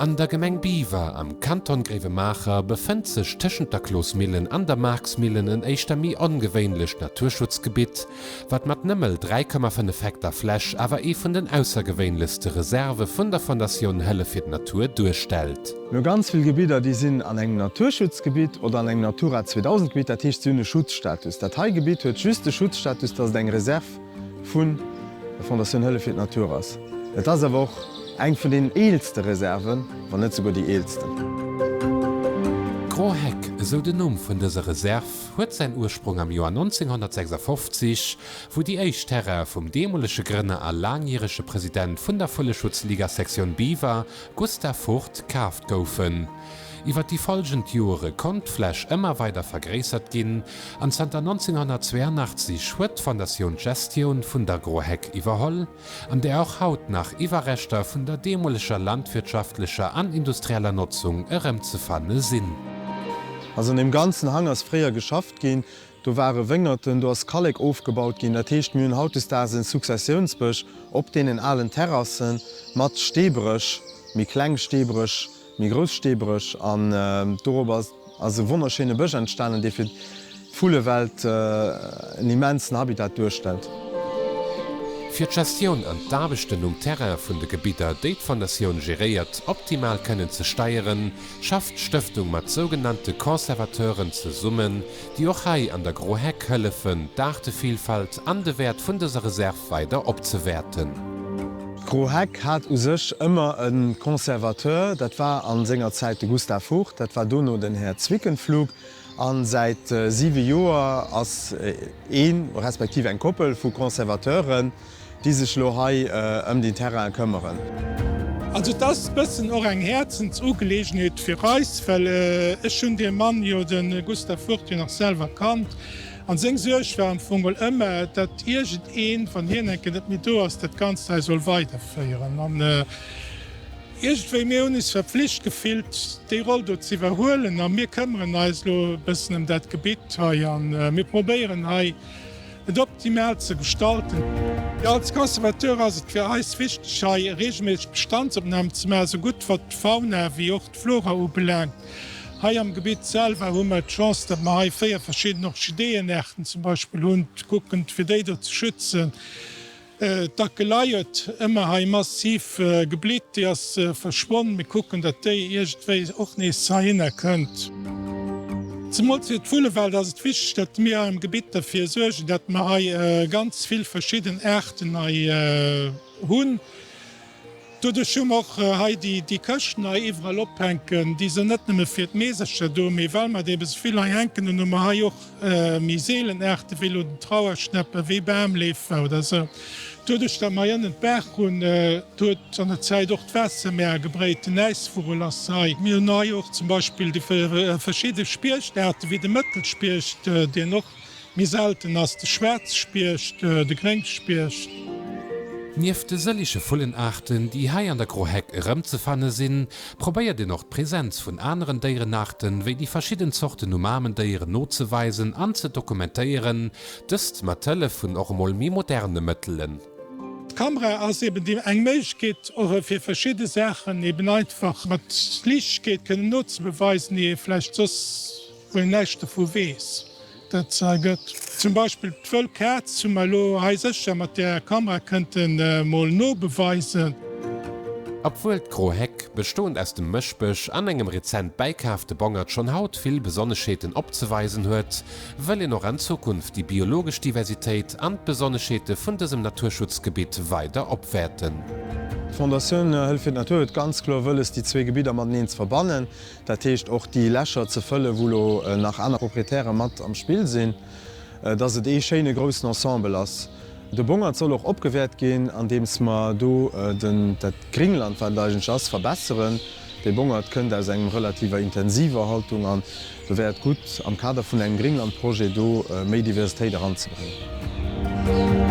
An der Gemeng Biwer am Kanton Gréiwemaacher befënnt sech tëschent der Closmillen an der Marxmillen en éischter méi ongewéinlecht Naturschutzgebitt, wat mat nëmmel 3,5 Hektar Fläch awer ee vun den aussergewéinlechste Reserve vun der Fondatioun Hëllef fir d'Natur duerstellt. No ganz vill Gebidder, déi sinn an engem Naturschutzgebitt oder an engem Natura 2000 Gebitt, dat heescht, si hunn e Schutzstatus. Dat hei Gebitt huet just de Schutzstatus, dass et eng Reserve. Vun der Fondatioun Hëllef fir d'Natur ass. Et ass awer och eng vun den eelste Reserven, wann net souguer déi eelsten. D'Grands Hecks, esou den Numm vun dëser Reserv, huet säin Ursprong am Joer 1956, wou déi éischt Terraine vum deemolege Grënner a laangjärege President vun der Vulleschutzliga Sektioun Biwer, Gustav Furth, kaaft goufen. Iwwer déi follgend Jore konnt d'Fläch ëmmer weider vergréissert ginn an zanter 1982 huet d'Fondatioun d'Gestioun vun d'Agroheck iwwerholl, an där och haut nach Iwwerreschter vun der deemoleger landwirtschaftlecher an industrieller Notzung erëmzefanne sinn. Also an deem ganzen Hang ass fréier geschafft ginn. Do ware Wéngerten, do ass Kallek ofgebaut ginn. Dat heescht, mir hunn hautdesdaags e Successiounsbësch op deenen alen Terrassen, mat Steebréch, méi kleng Steebréch. méi grouss Steebréch an dorobber ass e wonnerschéine Bësch entstanen, dee fir d'Vullewelt en immensen Habitat duerstellt. Fir d'Gestioun an d'Aarbechten um Terrain vun de Gebidder, déi d'Fondatioun geréiert, optimal kënnen ze steieren, schafft d'Stëftung mat sougenannte Conservateuren zesummen, déi och hei an der Gro Heck hëllefen, d'Aartevillfalt an de Wäert vun dëser Reserv weider opzewäerten. D'Gro Heck hat u sech ëmmer e Conservateur, dat war a senger Zäit de Gustav Vogt, dat war dono den Här Zwickenpflug, a säit siwe Joer ass een, respektiv eng Koppel vu Conservateuren, déi sech lo hei ëm deen Terrain këmmeren. Also et ass bëssen och eng Häerzensugeleegenheet fir eis, well ech hunn dee Mann jo, de Gustav Furt, jo nach selwer kannt an seng Suerg war am Fong mol ëmmer, datt iergend een, wann hien eng Kéier net méi do ass, dat Ganzt hei soll weiderféieren. An iergendwéi, mir hunn eis verpflicht gefillt, déi Roll do z'iwwerhuelen a mir këmmeren eis lo bëssen ëm dat Gebitt hei a mir probéieren hei et optimal ze gestalten. Als Conservateur ass et fir eis wichteg hei reegelméisseg Bestandsopnahmen ze maachen, esou gutt wat d'Fauna ewéi och d'Flora ubelaangt. Hei am Gebitt selwer hu mer d'Chance, datt mer hei 4 verschidden Orchideeënaarten zum Beispill hunn, kucken fir déi do ze schützen. D'Akelei huet ëmmer hei massiv geblitt. Déi ass verschwonn. Mir kucken, datt déi iergendwéi och nees heihinner kënnt. Zemools fir d'Vullewelt ass et wichteg, datt mir hei am Gebitt derfir suergen, datt mer hei ganz vill verschidden Aarten hei hunn. Doduerch hu mer och hei déi Këscht nei iwwerall ophänken. Déi sinn net nëmme fir d'Meesercher do, mee well mer der bis vill hei hänken hunn, hu mer hei och méi seelen Aarte wéi elo den Trauerschnäpp a wéi Bamleefer oder esou. Doduerch, datt mer hei ënnen d'Baach hunn, huet an der Zäit och d'Waasser méi agebréit. Den Äisvugel ass hei. Mir hunn hei och zum Beispill déi verschidde Spiecht-Aarte wéi de Mëttelspiecht, deen och Méi selten ass de Schwäerzspiecht, de Gréngspiecht. Nieft de sëlliche Vullenaarten, déi hei an der Groheck erëmzefanne sinn, probéiert een och d'Presenz vun aneren Déierenaarten, wéi déi verschidden Zorten u Mamendéieren nozeweisen an ze dokumentéieren, dëst mat Hëllef vun och emol méi moderne Mëttelen. D'Kamera ass eben déi eng Méiglechkeet och fir verschidde Saachen eben einfach mat Liichtgkeet kënnen nozebeweisen, déi ee vläicht soss wou een näischt dovu weess, dat et se hei gëtt. Zum Beispill d'wëll Kaz hu mer elo hei sécher mat der Kamera kënnte mol nobeweisen. Obwuel d'Gro Heck, bestoend aus dem Mëschbësch an engem rezent bäikaafte Bongert schonn haut vill Besonneschheeten opzeweisen huet, wëll een och an Zukunft déi biologesch Diversitéit an d'Besonneschheete vun dësem Naturschutzgebitt weider opwäerten. D'Fondatioun Hëllefirdennaturhuet ganz kloer wëlles déi zwee Gebidder mateneen ze verbannen. Dat heescht och déi Lächer ze fëllen, wou elo nach aner Proprietäre mat am Spill sinn, dass et ee schéine groussen Ensemble ass. De Bongert soll och opgewäert ginn, andeems mer do dat Gringland, wat et eigentlech ass, verbesseren. De Bongert kënnt aus engem relativer intensiver Haltung an do wär et gutt, am Kader vun engem Gringlandprojet do méi Diversitéit eranzebréngen.